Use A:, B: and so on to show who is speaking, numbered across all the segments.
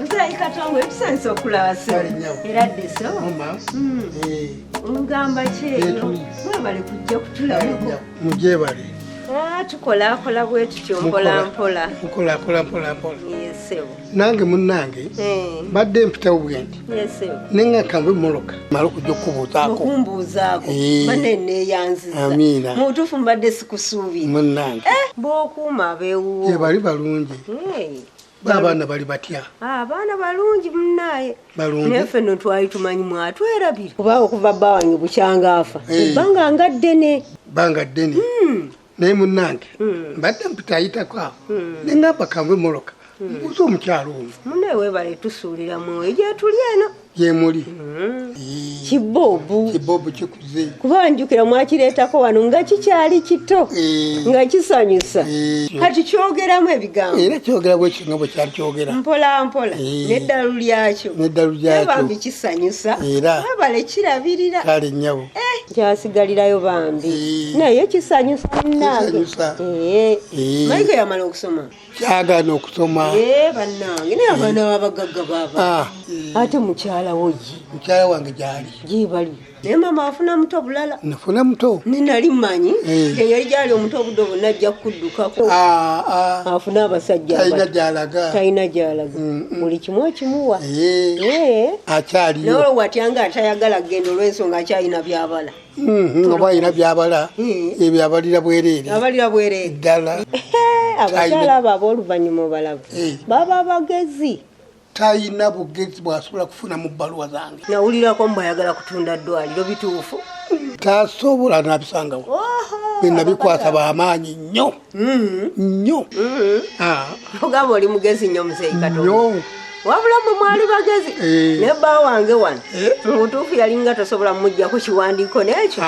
A: Musayi katongo ebisanisa okulaba sebo era ddiso hmm. eh. olugamba kyeyo mwebale kujja kutulabako mugyebale
B: ah, tukolakola
A: bwetutyo mpolampola nkolakola
B: mpolampola
A: eh, nange
B: munnange eh. mbadde mpitawo bwendi ninga
A: kambe moloka
B: mala okujja okukubuuzaako eh. bane
A: neeyanziza amiina mu butuufu
B: mbadde
A: sikusuubira munnange eh,
B: bookuuma
A: abewuwo bali balungi
B: baabaana bali batya abaana ah, balungi
A: munaye naye ffe no
B: twali tumanyi
A: mwatwerabire kuba okuva bawanyi bukyangaafa eh. ebbanga nga ddene banga ddene
B: hmm. naye munange hmm. mbadde mpitayitako awo hmm. nengamba kanve moloka hmm. mbuuza omukyalo ono mune webale
A: tusuulira mwoyo gyetuli eno yemuli kibobu kibobu kikuze
B: kuba njukira
A: mwakireetako wano nga kikyali kito nga kisanyusa kati kyogeramu ebigambo era kyogera bwekyo nga
B: bwekyali kyogera mpola mpola
A: neddalu lyakyo neddalu lyakyo bambi kisanyusa era webale kirabirira kale nyabo
B: eh. kyasigalirayo
A: bambi eh. naye kisanyusa nange eh. eh. mayiga yamala okusoma kyagana okusoma
B: banange naye
A: abaana babagagga baba ah. ate mukyala woyi mukyala wange gyali
B: gyebali naye
A: mama afuna muto bulala nafuna muto
B: ninali manyi
A: eh. eyali gyali omuto obudde obuna ajja kukuddukako ah, ah. afuna abasajja talina gyalaga mm, mm. kimu okimuwa
B: akyaliyo watya
A: nga atayagala kugenda olwensonga akyalina byabala mm-hmm, oba alina
B: byabala ebyo abalira bwereere abalira bwereere ddala abakyala
A: abo ab'oluvannyuma obalaba baba bagezi talina
B: bugezi bwasobola kufuna mu bbaluwa zange nawulirako mbu ayagala
A: kutunda ddwaliro bituufu tasobola
B: nabisangawo binabikwasa bamaanyi nnyo mm. nyo mm.
A: ah. ogamba oli mugezi nyo muzeeyi katonyo wabula mwe mwali bagezi eh. ne bba wange wano eh. mubutuufu yalinga tosobola mumujjako kiwandiiko nekyo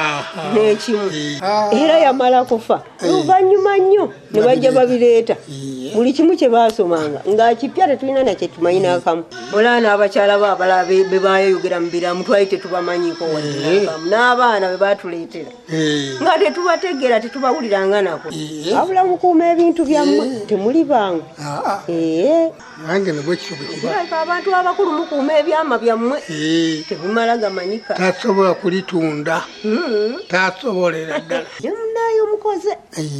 A: nekimu eh. ah. era yamala kufa luvannyuma nnyo ne bajja babireeta buli kimu kye baasomanga ng'akipya tetulina nakye tumanyi n'akamu olaa n'abakyala ba abalala be baayeyogera mu biramu twali tetubamanyiko wadde n'akamu n'abaana be baatuleetera Eh. nga tetubategeera tetubawuliranga nako eh. wabula mukuuma ebintu byammwe eh. temuli bangu
B: ah, ah. abantu abakulu
A: mukuuma ebyama byammwe tebimala gamanyika tasobola kulitunda
B: hmm. tasobolera ddala naye omukoze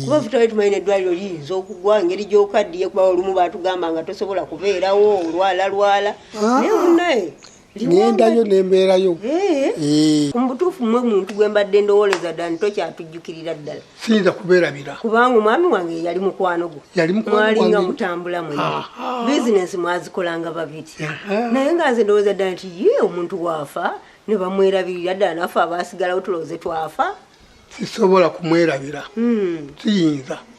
A: kuba futawe tumanyi neddwaliro liyinza okugwa ngeri gyokaddiye kuba olumu batugamba nga tosobola kubeerawo olwalalwala ah. naye munaye nendayo
B: nembeerayo eh. eh.
A: mubutuufu mwe muntu gwe mbadde ndowoleza dani tokyatujjukirira ddala siyinza kubeerabira
B: kubanga omwami wange
A: yali mukwano gwo mwalinga mutambula mwe bizinensi mwazikolanga babiri naye nga nze ndowooza ddala nti ye omuntu waafa ne bamwerabirira ddala nafe abaasigalawo tulowooze twafa sisobola
B: kumwerabira hmm. siyinza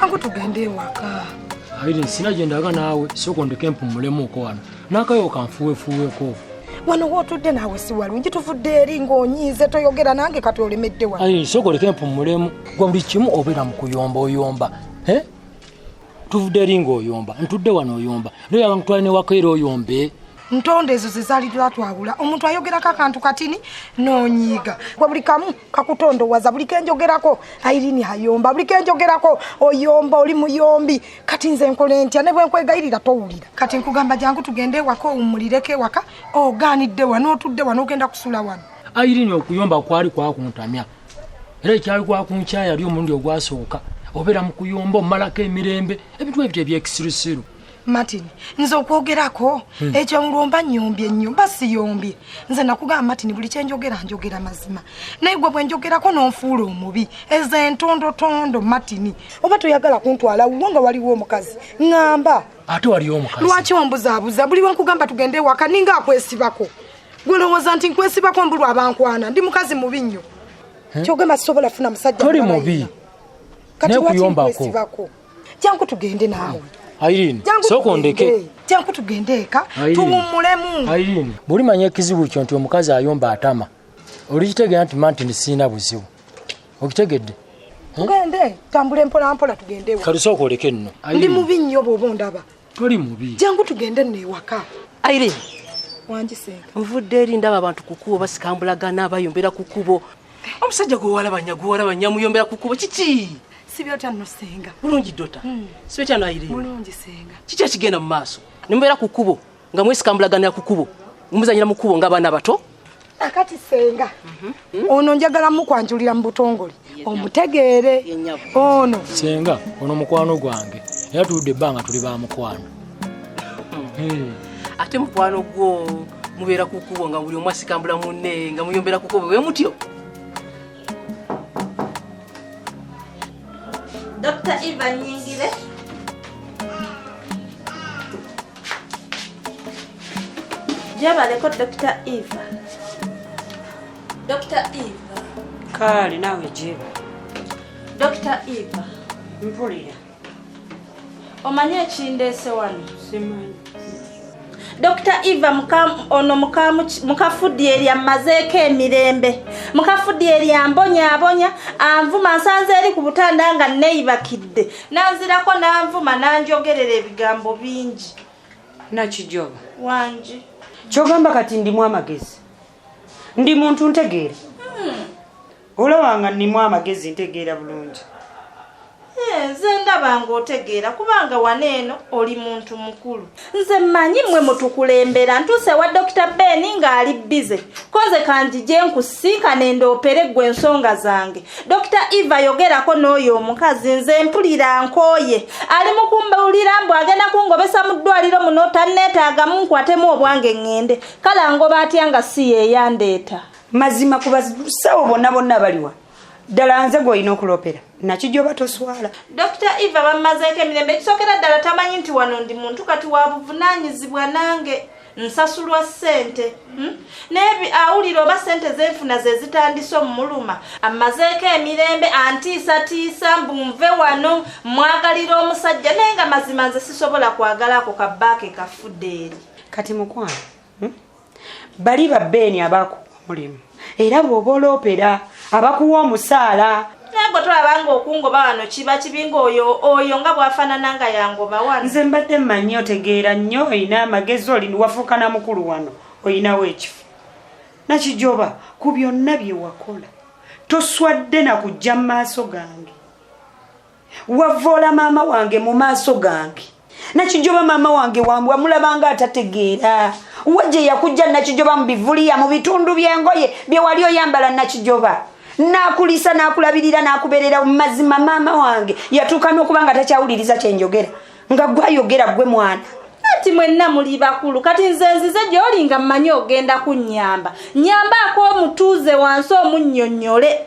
C: Tangu tugende ewaka. Irene, sina
D: gye ndaga naawe sooka ondeke mpummulemuuko wano n'akayo kanfuwefuweko wano
C: wootudde naawe si walungi tuvudde eri ng'onyiize toyogera nange kati olemedde wa Irene, sooka oleke mpummulemu
D: gwe buli kimu obeera mu kuyomba oyomba eh? tuvudde eri ng'oyomba ntudde wano oyomba era oyagala nkutwale ne waka era oyombe ntondo ezo
C: zezaali zatwawula omuntu ayogerako akantu katini nonyiiga gwe buli kamu kakutondowaza buli kenjogerako airini hayomba buli kenjogerako oyomba oli muyombi kati nze nkola entya ne bwenkwegayirira towulira kati nkugamba jangu tugende ewaka owummulireko ewaka ogaanidde wa n'otudde wa n'ogenda kusula wano airini okuyomba
D: kwali kwakuntamya era ekyali kwakunkyayali omulundi ogwasooka obeera mu kuyomba omumalako emirembe ebintu ebyo ebyekisirusiru martin
C: nze okwogerako hmm. ekyo nlwomba nyombye nnyo mba siyombye nze nakugamba martin buli kyenjogera njogera mazima naye gwe bwenjogerako nonfuula omubi ezo entondotondo martin oba toyagala kuntwala wuwo nga waliwo omukazi ŋamba ate waliwo omukazi
D: lwaki ombuzabuza
C: buli wenkugamba tugende ewaka ninga akwesibako gwelowooza nti nkwesibako mbulwa abankwana ndi mukazi mubi nnyo hmm? kyogamba sisobola funa musajja toli mubi
D: naye
C: kuyombako jangu tugende naawe Irene, sooka
D: ondeke. Jangu tugende
C: eka tuwummulemu. Irene, buli manya
D: ekizibu kyo nti omukazi ayomba atama. Olikitegeera nti manti ni sirina buzibu. Okitegedde? Tugende,
C: tambule mpola mpola tugende. Kati sooka oleke nno.
D: Ndi mubi nnyo bw'oba
C: ondaba. toli mubi jangu
D: tugende nno
C: ewaka aire
E: wangiseeka
C: nvudde eri ndaba
E: abantu ku kubo basikambulagana bayombera ku kubo omusajja gwewalabanya gwewalabanya muyombera ku kubo kiki sibyotya nno
C: senga bulungi dota hmm.
E: sibyotya no aire bulungi senga kiki
C: ekigenda mu maaso
E: nemubeera ku kubo nga mwesikambulaganira ku kubo muzanyira mu kubo ng'abaana abato akati
C: senga mhm. ono njagala mukwanjulira mu butongole omutegeere ono senga ono
D: mukwano gwange era tuludde ebbanga tuli ba mukwano
E: hmm. ate mukwano gwo mubeera kukubo nga buli omu asikambula munne nga muyombera kukubo we mutyo
F: dr eva nyingire gyebaleko dr eva dr eva kaale naawe
G: gyeba dr eva
F: mpulira omanyi ekindeese wano simanyi dr eva ono mukafudi erya mmazeeko emirembe mukafudi eryambonyabonya anvuma nsanze eri ku butanda nga neyibakidde nanzirako nanvuma nanjogerera ebigambo bingi nakijoba
G: wangi
F: kyogamba kati
G: ndimu amagezi ndi muntu ntegeera hmm. olabanga nnimu amagezi ntegeera bulungi
F: eh, nze ndabanga otegeera kubanga wano eno oli muntu mukulu nze mmanyi mmwe mutukulembera ntuuse ewa dokita beeni ng'ali bize koze kanjije nkusinkane ndoopere ggwe ensonga zange dokita eva yogerako n'oyo omukazi nze mpulira nkooye ali mu kumbulira mbu agenda kungobesa mu ddwaliro muno tanneetaagamu nkwatemu obwange ŋŋende kale angoba atya nga si yeeyandeeta mazima ku
G: basawo bonna bonna baliwa ddala nze gwolina okulopera nakijoba toswala dr eva
F: bammazeeko emirembe ekisokera ddala tamanyi nti wano ndi muntu kati wabuvunanyizibwa nange nsasulwa ssente hmm? naye awulira oba ssente zenfuna zezitandise omumuluma ammazeeko emirembe antiisatiisa mbu nve wano mwagalira omusajja naye nga mazima nze sisobola kwagalako kabaake kafudde eri kati mukwano hmm?
G: bali ba beeni abaakuwa omulimu era bw'oba oloopera abakuwa omusaala naye gwe tolabanga
F: okungoba wano kiba kibi ngaoyo oyo nga bwafaanana nga yangoba wano nze mbadde mmanyi
G: otegeera nnyo olina amagezi oli wafuuka na mukulu wano olinawo ekifo nakijoba ku byonna bye wakola toswadde na kujja mu maaso gange wavoola maama wange mu maaso gange nakijoba maama wange wambwa mulabanga atategeera wa gye yakujja nakijoba mu bivuliya mu bitundu by'engoye bye wali oyambala nakijoba nakulisa nakulabirira nakuberera mumazima maama wange yatuuka nokuba nga takyawuliriza kyenjogera nga gwe ayogera gwe mwana ati mwenna
F: muli bakulu kati nze nzize gyoli nga mmanyi ogenda kunnyamba nyambaako omutuuze wansi omunnyonnyole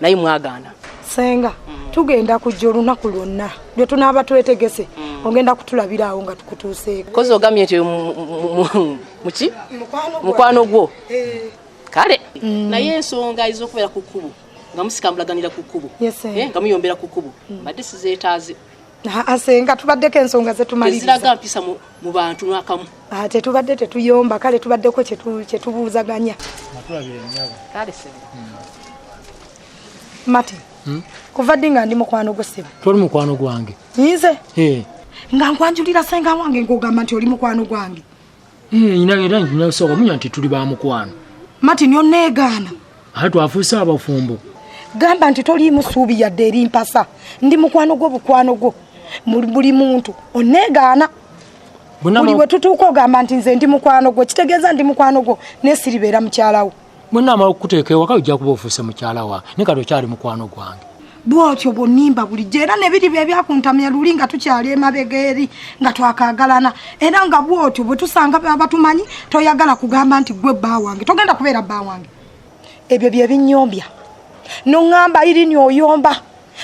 E: naye mwagaana senga
C: tugenda kujja olunaku lwonna lwe tunaaba twetegese mm. ogenda kutulabira awo nga tukutuuseeko kozi ogamye
E: nti muki mukwano gwo eh. kale mm. naye ensonga ezokubeera ku kkubo nga musikamulaganira ku kkubo eh, nga muyombera ku kkubo mm. mbadde sizeetaaze asenga
C: tubaddeko ensonga zetumaliriza mpisa
E: mu bantu nakamu ah, tetubadde
C: tetuyomba kale tubaddeko kyetubuuzaganya
E: hmm.
C: mati hmm? kuva ddi nga ndi mukwano gwe sebe toli mukwano gwange
D: nze
C: nga nkwanjulira senga wange nkugamba nti oli mukwano gwange Eh, nyina era
D: nyina soka munya nti tuli ba mukwano mati nyo
C: negana ate twafuusa
D: abafumbo gamba nti
C: toli musuubi yadde eri mpasa ndi mukwano gwo bukwano gwo buli muntu onegaana buli bwe tutuuka ogamba nti nze ndi mukwano gwo kitegeeza ndi mukwano gwo nesiribeera mukyalawo
D: bwonna amala okukuteeka ewaka ojja kuba ofuuse mukyala wa ne kati
C: okyali
D: mukwano gwange bwotyo
C: bwonimba bulijjo era nebiri bye byakuntamya luli nga tukyali emabega eri nga twakagalana era nga bwotyo bwe tusanga abatumanyi toyagala kugamba nti gwe bba wange togenda kubeera bba wange ebyo bye binyombya noŋŋamba irini oyomba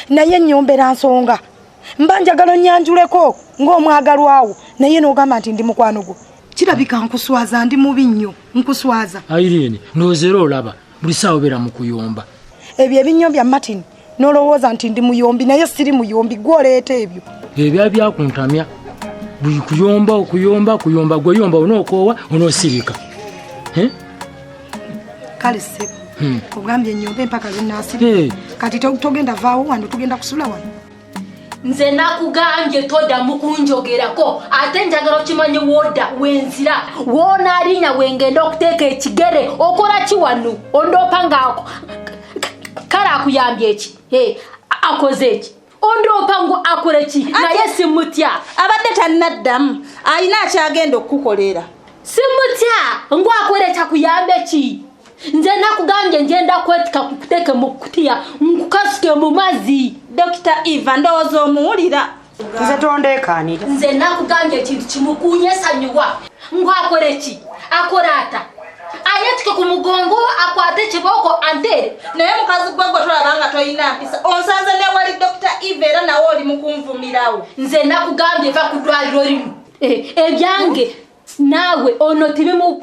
C: naye nyombera nsonga mba njagala onyanjuleko ng'omwagalwawo naye n'ogamba nti ndi mukwano gwo kirabika nkuswaza ndi mubi nnyo nkuswaza ayirini ndowooza
D: era olaba buli saawa obeera mu kuyomba ebyo ebinnyo bya
C: martin nolowooza nti ndi muyombi naye siri muyombi gwoleeta ebyo ebya byakuntamya
D: buli kuyomba okuyomba kuyomba gweyomba onookoowa onoosirika eh?
C: kale sebo hmm. ogambye enyomba empaka zinasiri eh. kati togenda vaawo wano tugenda kusula wano nze
H: nakugambye todamu kunjogerako ate njagala okimanyi woda wenzira wonalinya wengenda okuteeka ekigere okola ki wano ondoopa ngaako kale akuyambye eki akoze eki ondoopa ngu akola ki naye simutya abadde tanaddamu
F: alina akyagenda okukukolera simutya
H: ngu akola ekyakuyambe ki nze nakugambye njenda kwetika kukuteke mu kutiya nkukasuke mu mazzi dokita eva
F: ndowooza omuwulira nze
G: tondeekanira nze nakugambye
H: ekintu kimukunyesanyuwa ngwakole ki akole ata ayetike ku mugongo akwate ekibooko antere naye mukazi gwe
F: gwe tolaba nga tolina mpisa onsanze newali dokita eva era nawe oli mukunvumirawo nze nakugambye
H: eva ku dwaliro limu eh, ebyange naawe ono tibimu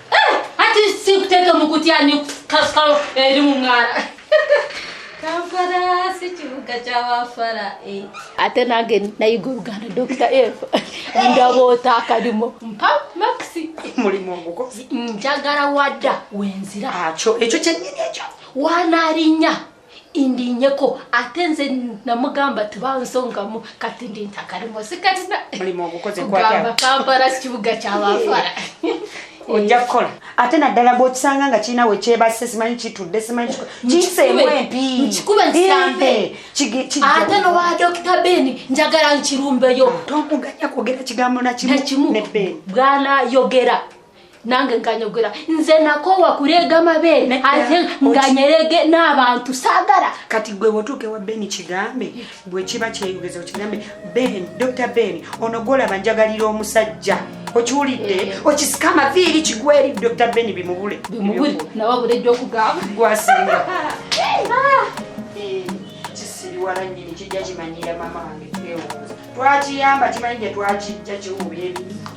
H: hati sikuteka mukutya ni kaskalo eri mu mwala kampala si kibuga kyawafala eh. ate nange nayiga oluganda dokita eva ndaba otaakalimu mpa maxi mulimu ogukozi
G: njagala wadda
H: wenzira akyo ekyo kyenyini
G: ekyo wanalinya
H: indinyeko ate nze namugamba tibansongamu kati ndi ntakalimo sikalina mulimu ogukoze
G: kugamba kampala
H: kibuga kyabafala ojja
G: kukola ate naddala bwokisanga nga kirina wekyebase simanyi kitudde simanyi kiseemu
H: empiate nowa dokita ben njagala nkirumbeyo tomuganya kwogera
G: kigambo nakimu bwanayogera
H: nange nganyogera nze nakowa kureega amabeere ate nganyerege n'abantu saagala kati gwe wotuuka
G: ewa ben kigambe bwe kiba kyeyogeza okigambe ben dr ben ono gwolaba njagalira omusajja okiwulidde eh. okisika amaviiri kigweri dr ben bimubule bimubule nawe abula
H: ejja okugamba gwasinga ah. eh, kisiriwala nyini
G: kijja kimanyira mama wange twewuuza twakiyamba kimanyi gye twakijja kiwuuba ebibi